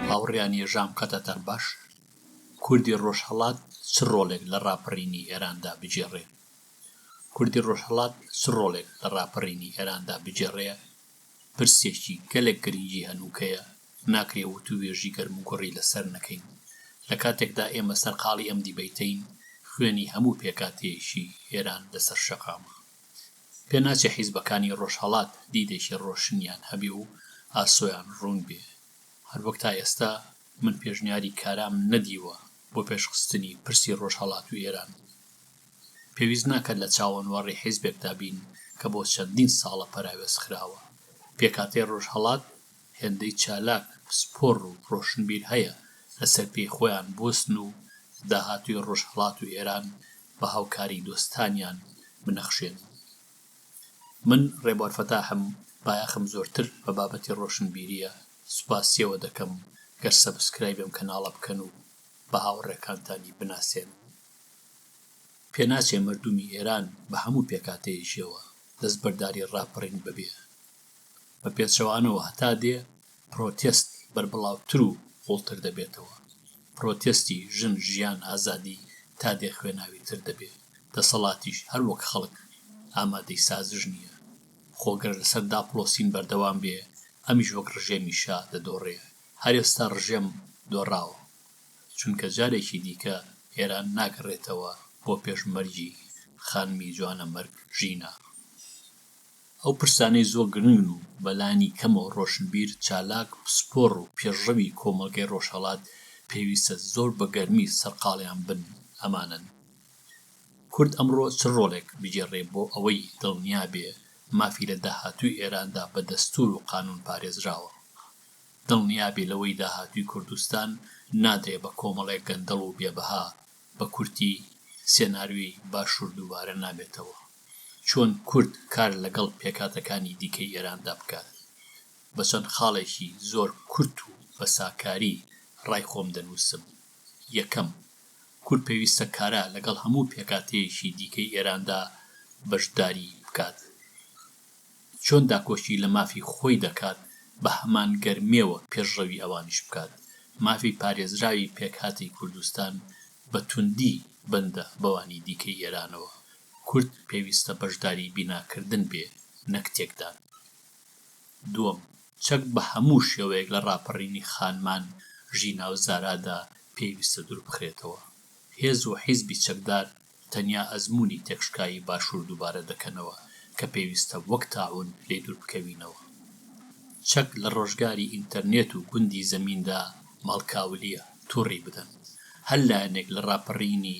هاوڕێیان یەژام قەتەتان باش، کوردی ڕۆژهەڵات چ ڕۆڵێک لە ڕاپەڕینی ئێراندا بگێڕێ؟ کوردی ڕۆژهەڵات چ ڕۆڵێک لە ڕاپەڕینی ئێراندا بگێڕێ؟ پرسێکی گەلێک گرنگی هەنووکەیە، ناکرێ وتووێژی گەرموگوڕی لەسەر نەکەین. لە کاتێکدا ئێمە سەرقاڵی ئەم دیبەیتەین، خوێنی هەموو پێکهاتەیەکی ئێران لەسەر شەقامە. پێ ناچێ حیزبەکانی ڕۆژهەڵات دیدێکی ڕۆشنیان هەبێ و ئاسۆیان ڕوون بێ، هەر وەک تا ئێستا من پێشنیاری کارام نەدیوە بۆ پێشخستنی پرسی ڕۆژهەڵات و ئێران. پێویست ناکات لە چاوەنوەڕی حیزبێکدا بین کە بۆ چەندین ساڵە پەراوێز خراوە. پێکهاتەی ڕۆژهەڵات هێندەی چالاک، پسپۆڕ و ڕۆشنبیر هەیە لەسەر پێی خۆیان بوەستن و داهاتووی ڕۆژهەڵات و ئێران بە هاوکاری دۆستانیان بنەخشێنن. من ڕێبوار فەتاحم بایەخم زۆرتر بە بابەتی ڕۆشنبیریە سوپاسیەوە دەکەم گەر سەبسکرایبی ئەم کەناڵە بکەن و بە هاوڕێکانتانی بناسێنن. پێناچێ مەردومی ئێران بە هەموو پێکاتەیەکیەوە دەستبەرداری ڕاپەڕین ببێ. بە پێچەوانەوە هەتا دێ پرۆتێست بەربڵاوتر و قوڵتر دەبێتەوە. پرۆتێستی ژن ژیان ئازادی تا دێ خوێناوی تر دەبێ دەسەڵاتیش هەر وەک خەڵک ئامادەی سازش نیە خۆ گەر لەسەر داپڵۆسین بەردەوام بێ ئەمیش وەک ڕژێمی شا دەدۆڕێ هەر ئێستا ڕژێم دۆڕاوە چونکە جارێکی دیکە ئێران ناگەڕێتەوە بۆ پێش مەرگی خانمی جوانەمەرگ ژینا ئەو پرسانەی زۆر گرنگن و بەلانی کەمەوە رۆشنبیر، چالاک، پسپۆڕ و پێشڕەوی کۆمەڵگەی رۆژهەڵات پێویستە زۆر بە گەرمی سەرقاڵیان بن ئەمانەن. کورد ئەمڕۆ چ رۆڵێک بگێڕێ بۆ ئەوەی دڵنیا بێ مافی لە داهاتووی ئێراندا بە دەستوور و قانوون پارێزراوە؟ دڵنیا بێ لەوەی داهاتووی کوردستان نادرێ بە کۆمەڵێک گەندەڵ و بێبەها، بە کورتی سێناریۆی باشوور دووبارە نابێتەوە. چۆن کورد کار لەگەڵ پێکهاتەکانی دیکەی ئێراندا بکات، بە چەند خاڵێکی زۆر کورت و بە ساکاری ڕای خۆم دەنووسم، یەکەم، کورد پێویستە کارا لەگەڵ هەموو پێکهاتەیەکی دیکەی ئێراندا بەشداری بکات. چۆن داکۆکی لە مافی خۆی دەکات، بە هەمان گەرمێوە پێشڕەوی ئەوانیش بکات. مافی پارێزراوی پێکهاتەی کوردستان بە توندی بەندە بەوانی دیکەی ئێرانەوە، کورد پێویستە بەشداری بیناکردن بێ نەک تێکدان. دووەم، چەک بە هەموو شێوەیەک لە ڕاپەڕینی خانمان ژینا و زارادا پێویستە دووربخرێتەوە. هێز و حیزبی چەکدار تەنیا ئەزموونی تێکشکایی باشوور دووبارە دەکەنەوە کە پێویستە وەک تاعوون لێی دووربکەوینەوە. چەک لە ڕۆژگاری ئینتەرنێت و گوندی زەمیندا ماڵکاولییە، توڕی بدەن. هەر لایەنێک لە ڕاپەڕینی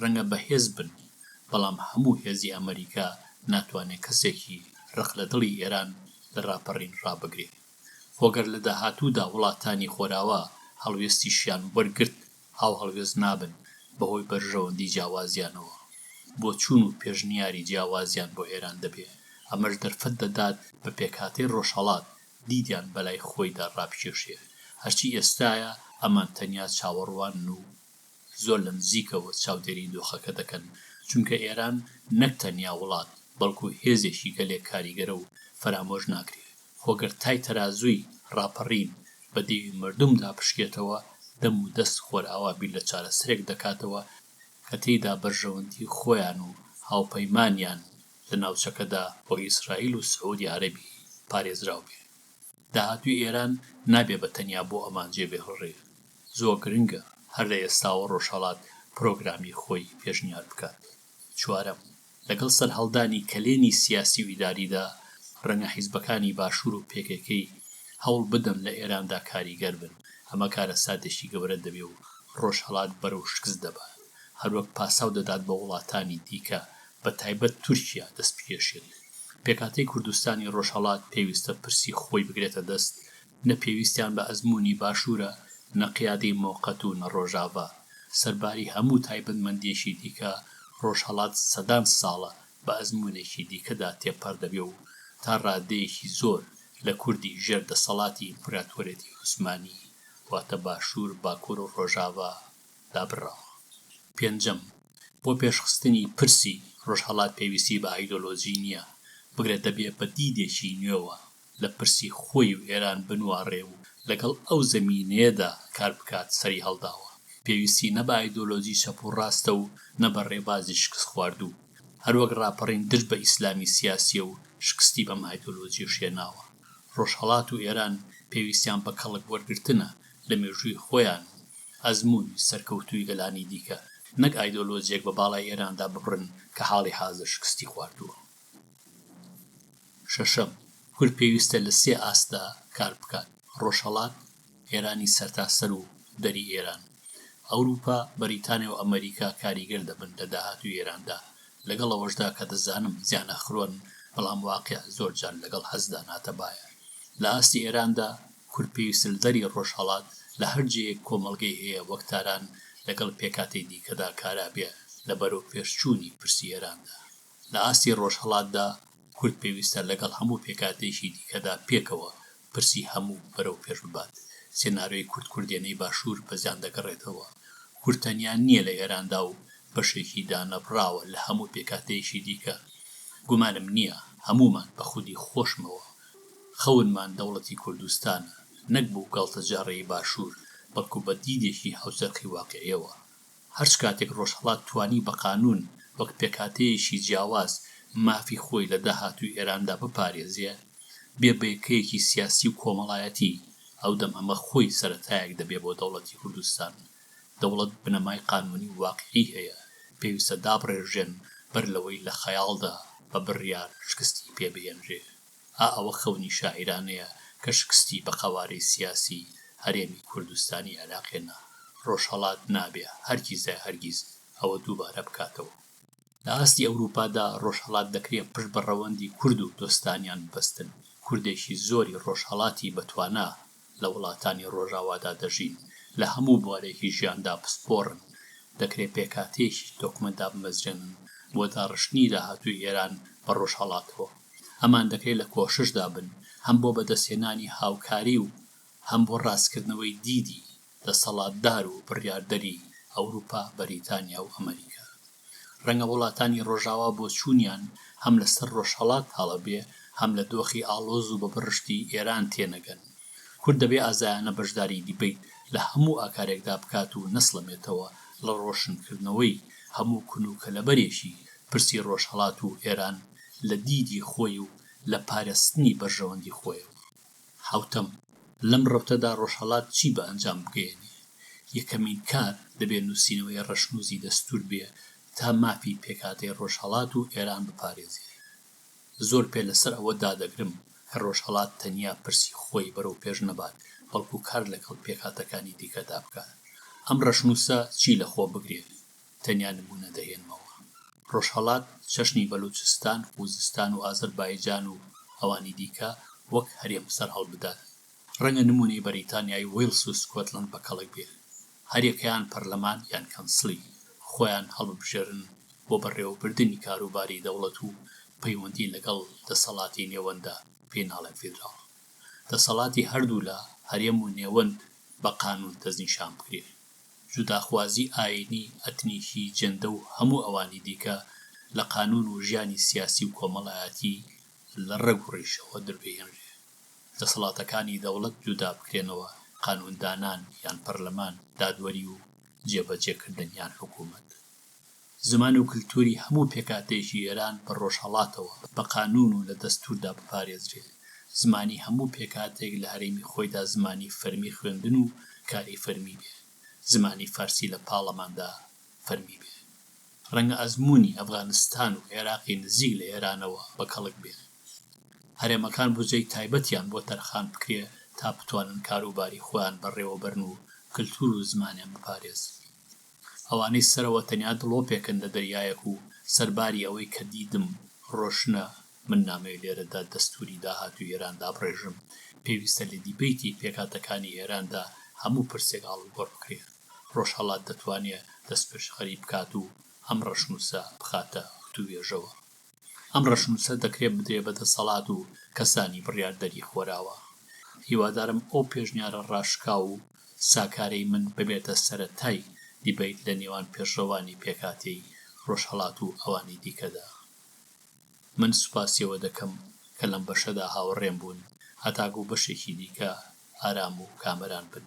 رەنگە بەهێز بن، بەڵام هەموو هێزی ئەمەریکا ناتوانێ کەسێکی رق لە دڵی ئێران لە راپەڕین رابگرێ. خۆ گەر لە داهاتوودا وڵاتانی خۆراوا هەڵوێستیشیان وەرگرت، هاوهەڵوێست نابن بەهۆی بەرژەوەندی جیاوازیانەوە. بۆچوون و پێشنیاری جیاوازیان بۆ ئێران دەبێ. ئەمەش دەرفەت دەدات بە پێکهاتەی رۆژهەڵات دیدیان بەلای خۆیدا رابکێشێ. هەرچی ئێستایە ئەمان تەنیا چاوەڕوانن و زۆر لە نزیکەوە چاودێری دۆخەکە دەکەن، چونکە ئێران نەک تەنیا وڵات، بەڵکو هێزێکی گەلێک کاریگەرە و فەرامۆش ناکرێ، خۆ گەر تای تەرازووی ڕاپەڕین بە دێوی مەردومدا پشکێتەوە، دەم و دەست خۆرئاوا بیر لە چارەسەرێک دەکاتەوە کە تێیدا بەرژەوەندی خۆیان و هاوپەیمانیان لە ناوچەکەدا بۆ ئیسرائیل و سعودی عەرەبی پارێزراو بێ. داهاتووی ئێران نابێ بە تەنیا بۆ ئەمان جێ بهڵرێ، زۆر گرنگە هەر لە ئێستاوە ڕۆژهەڵات پرۆگرامی خۆی پێشنیار بکات. چوارەم، لەگەڵ سەرهەڵدانی کەلێنی سیاسی و ئیداریدا، ڕەنگە حیزبەکانی باشوور و پێکەکەی هەوڵ بدەن لە ئێراندا کاریگەر بن، ئەمە کارەساتێکی گەورە دەبێ و ڕۆژهەڵات بەرەو شکست دەبات، هەروەک پاساو دەدات بە وڵاتانی دیکە بە تایبەت تورکیا دەست بکێشێت. پێکهاتەی کوردستانی ڕۆژهەڵات پێویستە پرسی خۆی بگرێتە دەست، نە پێویستیان بە ئەزموونی باشوورە، نە قیادەی مۆقەت و نە ڕۆژاڤا. سەرباری هەموو تایبەتمەندییەکی دیکە، ڕۆژهەڵات سەدان ساڵە بە ئەزموونێکی دیکەدا تێپەڕ دەبێ و تا ڕادەیەکی زۆر لە کوردی ژێر دەسەڵاتی ئیمپراتۆرێتی عوسمانی واتە باشوور، باکوور و ڕۆژاڤا دابڕاوە. پێنجەم، بۆ پێشخستنی پرسی ڕۆژهەڵات پێویستی بە ئایدۆلۆژی نییە، بگرە دەبێ بە دیدێکی نوێوە لە پرسی خۆی و ئێران بنواڕێ و لەگەڵ ئەو زەمینەیەدا کار بکات سەری هەڵداوە. پێویستی نە بە ئایدۆلۆژی چەپ و ڕاستە و نە بە ڕێبازی شکستخواردوو. هەروەک ڕاپەڕین دژ بە ئیسلامی سیاسییە و شکستی بەم ئایدۆلۆژییەش هێناوە. ڕۆژهەڵات و ئێران پێویستیان بە کەڵک وەرگرتنە لە مێژووی خۆیان و ئەزموونی سەرکەوتووی گەلانی دیکە، نەک ئایدۆلۆجیەک بە باڵای ئێراندا ببڕن کە حاڵی حازر شکستی خواردووە. شەشەم، کورد پێویستە لە سێ ئاستدا کار بکات، ڕۆژهەڵات، ئێرانی سەرتاسەر و دەری ئێران. ئەوروپا، بەریتانیا و ئەمەریکا کاریگەر دەبن لە داهاتووی ئێراندا، لەگەڵ ئەوەشدا کە دەزانم زیانەخرۆن، بەڵام واقیع زۆر جار لەگەڵ هەستدا ناتەبایە. لە ئاستی ئێراندا کورد پێویستە لە دەری ڕۆژهەڵات لە هەر جێیەک کۆمەڵگەی هەیە وەک تاران لەگەڵ پێکهاتەی دیکەدا کارا بێ لە بەرەو پێش چوونی پرسی ئێراندا. لە ئاستی ڕۆژهەڵاتدا کورد پێویستە لەگەڵ هەموو پێکهاتەیەکی دیکەدا پێکەوە پرسی هەموو بەرەو پێش ببات. سێنارۆی کورد کوردێنەی باشوور بە زیان دەگەڕێتەوە. کورد تەنیا نییە لە ئێراندا و بەشێکی دانەبڕاوە لە هەموو پێکهاتەیەکی دیکە. گومانم نییە هەموومان بە خودی خۆشمەوە خەونمان دەوڵەتی کوردستانە نەک بۆ گاڵتەجاڕیی باشوور، بەڵکو بە دیدێکی هاوچەرخی واقیعییەوە. هەرچ کاتێک ڕۆژهەڵات توانی بە قانوون وەک پێکهاتەیەکی جیاواز مافی خۆی لە داهاتووی ئێراندا بپارێزێ، بێ بەیەکەیەکی سیاسی و کۆمەڵایەتی، ئەودەم ئەمە خۆی سەرەتایەک دەبێ بۆ دەوڵەتی کوردستان دەوڵەت بنەمای قانوونی و واقیعی هەیە، پێویستە دابڕێژرێن بەر لەوەی لە خەیاڵدا بە بڕیار شکستی پێ بهێنرێ. ئا ئەوە خەونی شاعیرانەیە کە شکستی بە قەوارەی سیاسی هەرێمی کوردستانی عێراقێ نا، ڕۆژهەڵات نابێ هەرگیزایهەرگیز ئەوە دووبارە بکاتەوە. لە ئاستی ئەوروپادا ڕۆژهەڵات دەکرێ پشت بە ڕەوەندی کورد و دۆستانیان ببەستن، کوردێکی زۆری ڕۆژهەڵاتی بەتوانا لە وڵاتانی ڕۆژاوادا دەژین، لە هەموو بوارێکی ژیاندا پسپۆڕن، دەکرێ پێکهاتەیەکی تۆکمە دابمەزرێنن بۆ داڕشتنی داهاتووی ئێران بە ڕۆژهەڵاتەوە. ئەمان دەکرێ لە کۆششدا بن هەم بۆ بەدەستهێنانی هاوکاری و هەم بۆ ڕاستکردنەوەی دیدی دەسەڵاتدار و بڕیاردەری ئەوروپا، بەریتانیا و ئەمەریکا. ڕەنگە وڵاتانی ڕۆژاوا بۆچوونیان هەم لە سەر ڕۆژهەڵات تاڵە بێ، هەم لە دۆخی ئاڵۆز و بە بڕشتی ئێران تێنەگەن. کورد دەبێ ئازایانە بەشداری دیبەیت لە هەموو ئاکارێکدا بکات و نەسڵەمێتەوە لە ڕۆشنکردنەوەی هەموو کون و کەلەبەرێکی پرسی ڕۆژهەڵات و ئێران لە دیدی خۆی و لە پارێزتنی بەرژەوەندی خۆیەوە. حەوتەم، لەم رەوتەدا رۆژهەڵات چی بە ئەنجام بگەیەنێ؟ یەکەمین کار، دەبێ نووسینەوەی رەشنووسی دەستوور بێ تا مافی پێکهاتەی رۆژهەڵات و ئێران بپارێزێ. زۆر پێ لە سەر ئەوە دادەگرم کە رۆژهەڵات تەنیا پرسی خۆی بەرەو پێش نەبات، بەڵکوو کار لەگەڵ پێکهاتەکانی دیکەدا بکات. ئەم رەشنووسە چی لە خۆ بگرێ؟ تەنیا نموونە دەهێنمەوە. ڕۆژهەڵات، چەشنی بەلووچستان، خووزستان و ئازەربایجان و ئەوانی دیکە وەک هەرێم سەر هەڵبدات. ڕەنگە نموونەی بەریتانیای ویڵس و سکۆتلەند بە کەڵک بێ. هەر یەکەیان پەرلەمان یان کەنسڵی خۆیان هەڵببژێرن بۆ بەڕێوەبردنی کاروباری دەوڵەت و پەیوەندی لەگەڵ دەسەڵاتی نێوەنددا پێی ناڵێن فیدراڵ. دەسەڵاتی هەردوو لا، هەرێم و نێوەند، بە قانوون دەستنیشان بکرێ. جوداخوازی ئایینی، ئەتنیکی، جەندە و هەموو ئەوانی دیکە لە قانوون و ژیانی سیاسی و کۆمەڵایەتی لە ڕەگ و ڕیشەوە دەربهێنرێ. دەسەڵاتەکانی دەوڵەت جودا بکرێنەوە، قانووندانان یان پەرلەمان، دادوەری و جێبەجێکردن یان حکوومەت. زمان و کلتوری هەموو پێکهاتەیەکی ئێران بە ڕۆژهەڵاتەوە بە قانوون و لە دەستووردا بپارێزرێ. زمانی هەموو پێکهاتەیەک لە هەرێمی خۆیدا زمانی فەرمی خوێندن و کاری فەرمی بێ. زمانی فارسی لە پاڵەماندا فەرمی بێ. ڕەنگە ئەزموونی ئەفغانستان و عێراقی نزیک لە ئێرانەوە بە کەڵک بێ. هەرێمەکان بوجەی تایبەتیان بۆ تەرخان بکرێ تا بتوانن کاروباری خۆیان بەڕێوەبەرن و کلتوور و زمانیان بپارێزن. ئەوانەی سەرەوە تەنیا دڵۆپێکن لە دەریایەک و سەرباری ئەوەی کە دیدم ڕۆشنە من نامەوێت لێرەدا دەستووری داهاتووی ئێران دابڕێژم، پێویستە لە دیبەیتی پێکهاتەکانی ئێراندا هەموو پرسێک ئاڵوگۆڕ بکرێت، ڕۆژهەڵات دەتوانێت دەستپێشخەری بکات و ئەم ڕەشنووسە بخاتە وتووێژەوە. ئەم ڕەشنووسە دەکرێت بدرێت بە دەسەڵات و کەسانی بڕیاردەری خۆراوا. هیوادارم ئەو پێشنیارە ڕاشکاو و ساکارەی من ببێتە سەرەتای دیبەیت لە نێوان پێشڕەوانی پێکهاتەی ڕۆژهەڵات و ئەوانی دیکەدا. من سوپاسی ئەوە دەکەم کە لەم بەشەدا هاوڕێم بوون هەتاکوو بەشێکی دیکە ئارام و کامەران بن.